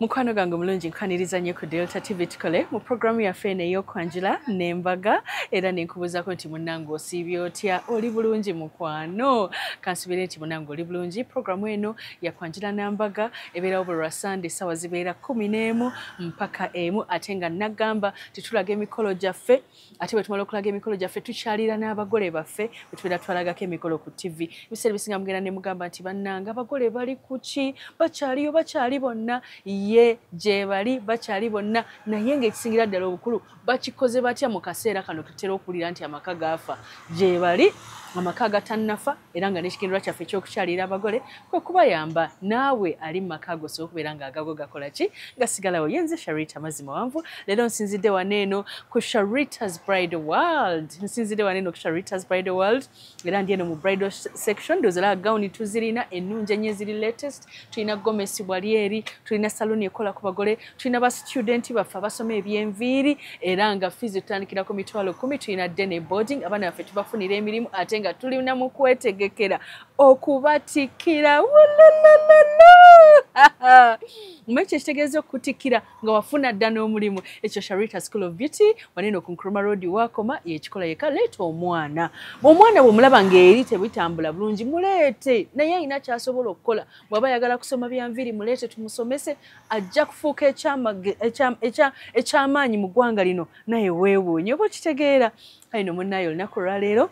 mukwano gange omulungi nkwaniriza nnyo ku delta tv tukole mu programu yaffe eno ey'okwanjula n'embaga era nenkubuuzako nti munange osiibye otya oli bulungi mukwano kansubire nti munange oli bulungi programu eno yakwanjula n'ambaga ebeerawo buli lwa sande essaawa zibeera kumi n'emu mpaka emu ate nga nagamba titulaga emikolo gyaffe ate bwe tumala okulaga emikolo gyaffe tukyalira n'abagole baffe bwe tubeera twalagako emikolo ku ttivi ebiseera ebisinga mugenda ne mugamba nti bannanga abagole bali ku ki bakyaliyo bakyali bonna ye gye bali bakyali bonna naye ng'ekisingira ddala obukulu bakikoze batya mu kaseera kano tutera okuwulira nti amaka gaafa gye bali amaka agatannafa era nga n'ekigendererwa kyaffe ekyokukyalira abagole kwe kubayamba naawe ali mu maka ago osobola okubeera nga agago gakola ki gasigalawo ye nze sharita mazzi mawanvu leero nsinzidde wano eno ku sharitas bride world nsinzidde wano eno ku sharitas bride world era ndi eno mu bridal section dozala gawuni tuzirina ennungi ennyo eziri latest tulina gomesi bwali eri tulina saluuni ekola ku bagole tulina ba student baffe abasoma ebyenviiri era nga fees tutandikira ku mitwalo kumi tulina dene boarding abaana baffe tubafunira emirimu ate nga tulina mu kwetegekera okubatikira mwe ekyo ekitegeeza okutikkira nga wafuna dda n'omulimu ekyo sharita school of beauty wanene ku nkroma road wakoma yekikola yeka leeta omwana omwana bwomulaba ngaeri tebitambula bulungi muleete naye alina kyasobola okukola bwaba ayagala kusoma byanviiri muleete tumusomese ajja kufuuka ekyamaanyi mu ggwanga lino naye weewuunye oba okitegeera ayi no munnaye olunaku olwaleero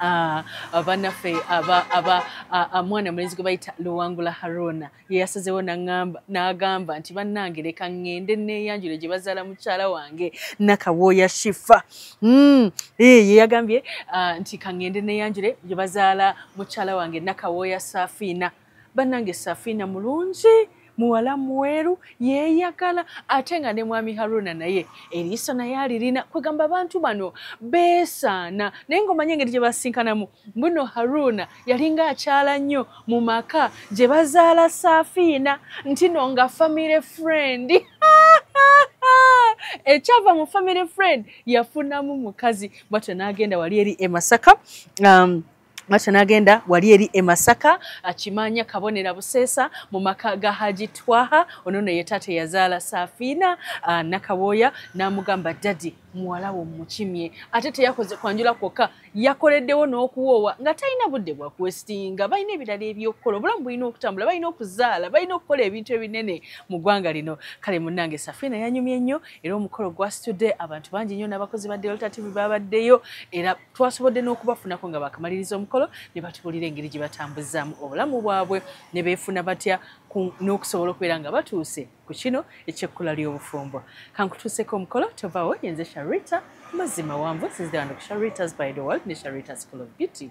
Ah, abanaffe ah, mwana mulenzi gwe bayita luwangula haruna yeyasazewo n'agamba nti bannange leka ŋŋende neeyanjule gye bazaala mukyala wange nakawooya shifa hmm, eh, yeyagambye ah, nti kaŋŋende neeyanjule gye bazaala mukyala wange nakawooya safiina banange safina mulungi muwala mweru yeyagala ate nga ne mwami haruna naye eriiso naye alirina kwegamba abantu bano besaana naye ngaomanye engeri gye basinkanamu mbuno haruna yalinga akyala nnyo mu maka gye bazaala saafiina ntino nga family friend ekyava mu family friend yafunamu mukazi bwatyo n'agenda wali eri emasaka um, Macho nagenda wali eri e Masaka akimanya kabonera busesa mu maka ga Haji Twaha ono ne yetate yazaala Safina uh, nakaboya namugamba daddy muwala wo mukimye ate teyakoze kwanjula kwokka yakoleddewo n'okuwoowa nga talina budde bwa kwesitinga balina ebirala ebyokukola obulamu bulina okutambula balina okuzaala balina okukola ebintu ebinene mu ggwanga lino kale munnange safina yanyumye nnyo era omukolo gwasitudde abantu bangi nnyo n'abakozi ba delta tv babaddeyo era twasobodde n'okubafunako nga bakamaliriza omukolo ne batubuulira engeri gye batambuzaamu obulamu bwabwe ne beefuna batya n'okusobola okubeera nga batuuse ku kino ekyekkula ly'obufumbo kankutuuseko omukolo tovawo yenze sharita mazima wanvu sizidewando ku sharitas by the world ne sharita school of beauty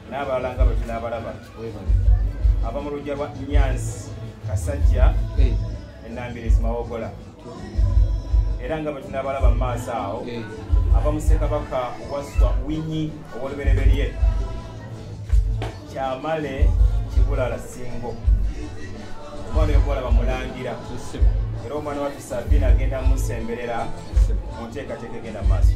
n'abalala nga bwe tunaabalaba ava mu lujja lwa nyansi kasajja eh. enambirizi mawogola era nga bwe tunaabalaba mu maaso awo eh. ava mu ssekabaka waswa winyi ow'olubereberye kyamale kibulala singo omwana yokubalaba mulangira era omwana waffe sabina agenda musemberera mu nteekateeka egenda maaso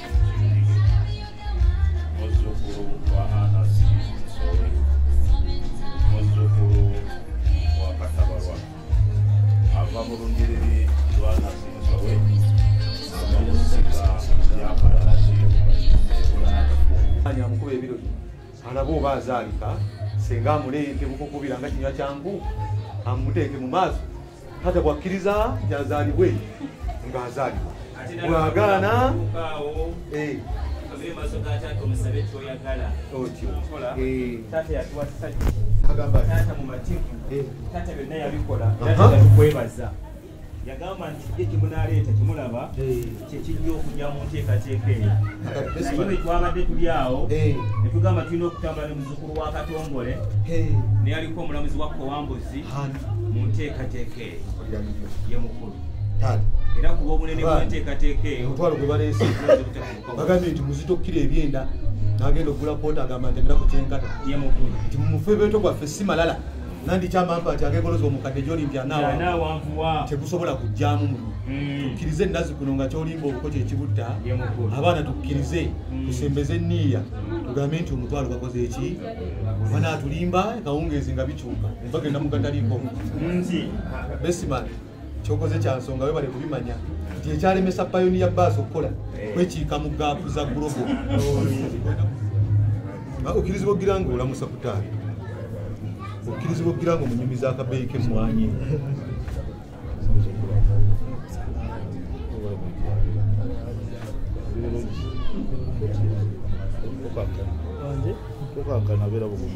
azaalika senga amuleete bukukubira nga kinywa kyangu amuteeke mu maaso kata bwakkiriza gyazaalibwe ng'azaalibwa bwagaana eh. otyo yagamba nti ye kimunaleeta kimulaba kyekijja okujja mu nteekateeka eyo naye bwetwabadde tuli awo netugamba tulina okutambula ne muzukulu wa katongole neyaliko omulamuzi wa kowambuzi mu nteekateeka eyo ye mukulu era kuba obunene bwenteekateeka eyo omutwalo gwe baleese bagambye nti muzita okukira ebyenda nagenda okugula koota agamba nti enera ku kyenkata nti mumufe beto gwaffe si malala nandi kyama mpa ati agegoloza omukadde gyoli nti anaawa tegusobola kujjamu muno mm. tukkirize ennazi kuno nga kyolimba oluko kyekibutta abaana tukkirize mm. tusembeze enniiya tugambe nti omutwalo bakoze eki banaatulimba kawungeezi nga bikyuka bagenda mugataliiko besiman kyokoze kyansonga webale kubimanya nti ekyalemesa payoni ya baasi okukola eh. kwekiika mu gaapu za gulobo okkirizibwa okugira nga olamusa kutaata okkirizibwa okugira nga omunyumi zakabeeyi kemmwanyi kukankana bera bugumu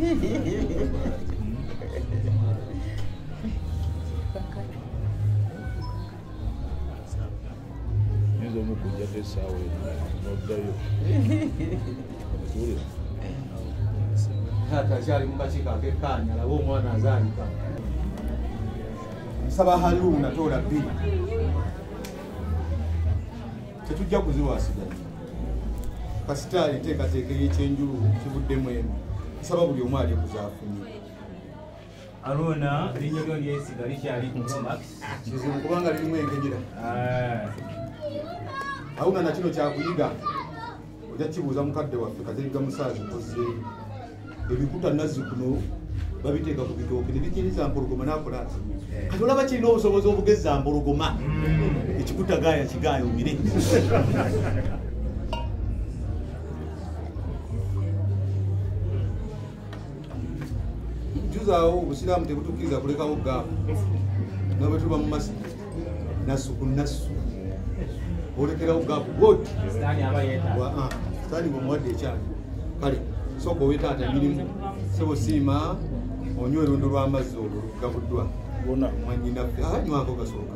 nyinza omukujjako esaawa noddayo okiwulira taata akyali mukakiiko akekaanya alabe omwana azaalika nsaba haluuna toola bbiri tetujja kuziwasigaa kasita enteekateeka eyekyenjulu kivuddemu emu nsaba buli omu ali kuzaafunye Aruna linyo lyo lyesi gali kyali ku Max. Kizo kubanga lilimu engejira. Ah. Auna na kino kyakuyiga. Oja kibuza mukadde waffe kaziga musazi kozi. Ebikuta nazi kuno babiteeka ku bitooke ne bikiriza mpologoma nakola ati eh. kati olaba kirina obusobozi obugezza mpologoma mm. ekikutagaaya kigaaya omire juzaawo obusiraamu tebutukkiriza kulekawo gaabu nabwe tuba mu masi nasu ku nasu olekerawo gaabu god sitaani ah, bwemuwadde ekyali kale sooka owe taata emirimu sebo siima onywa erundo lw'amazzi olwo lugabuddwa mwanyinaffe anywako ah, gasooka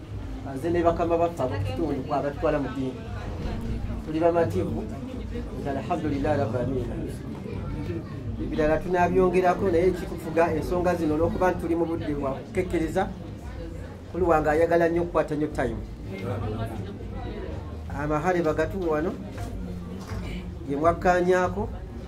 nze ne bakama baffe abakukitundu kwa batutwala mu ddiini tuli bamativu nti alhamdulilahi rabamina ebirala tunabyongerako naye ekitufuga ensonga zino olwokuba nti tuli mu budde bwa kukekkereza kuli wange ayagala nnyo okukwata nnyo tayimu amahale bagatuwa wano gemwakkanyaako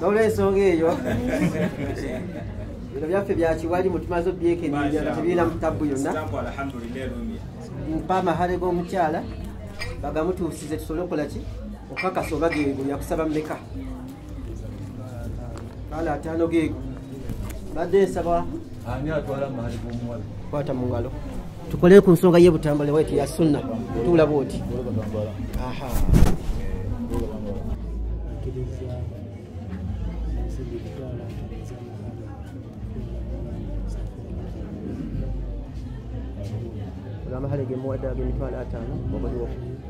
nolwensonga eyo bino byaffe byakiwali mutumaze obyekenenya nga tebirina mutabu yonna mpa amahale g'omukyala bagamutuusize tusobole okukola ki okukakasa oba geego yakusaba mumeka kale ataano geego badde nsaba ani atwala amahali g'omuwala kwata mu ngalo tukolere ku nsonga ye butambale waitu ya sunna tuula bwoti amahale gemuwadde agemitwalo ataano obuliwo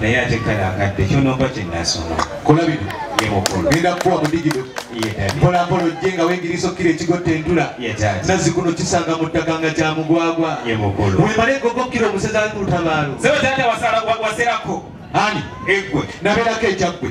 naye ate kale akadde kyonomba kyenasoma kulabino genda kukuwa mudigido mpolampola ojje nga wengirisa okkira ekigotta entula nazzi kuno kisanga mu ttaka nga kya mugwagwa wemale egogo okkira omuseza lutabaalo ani egwe nabeerako ekyaggwe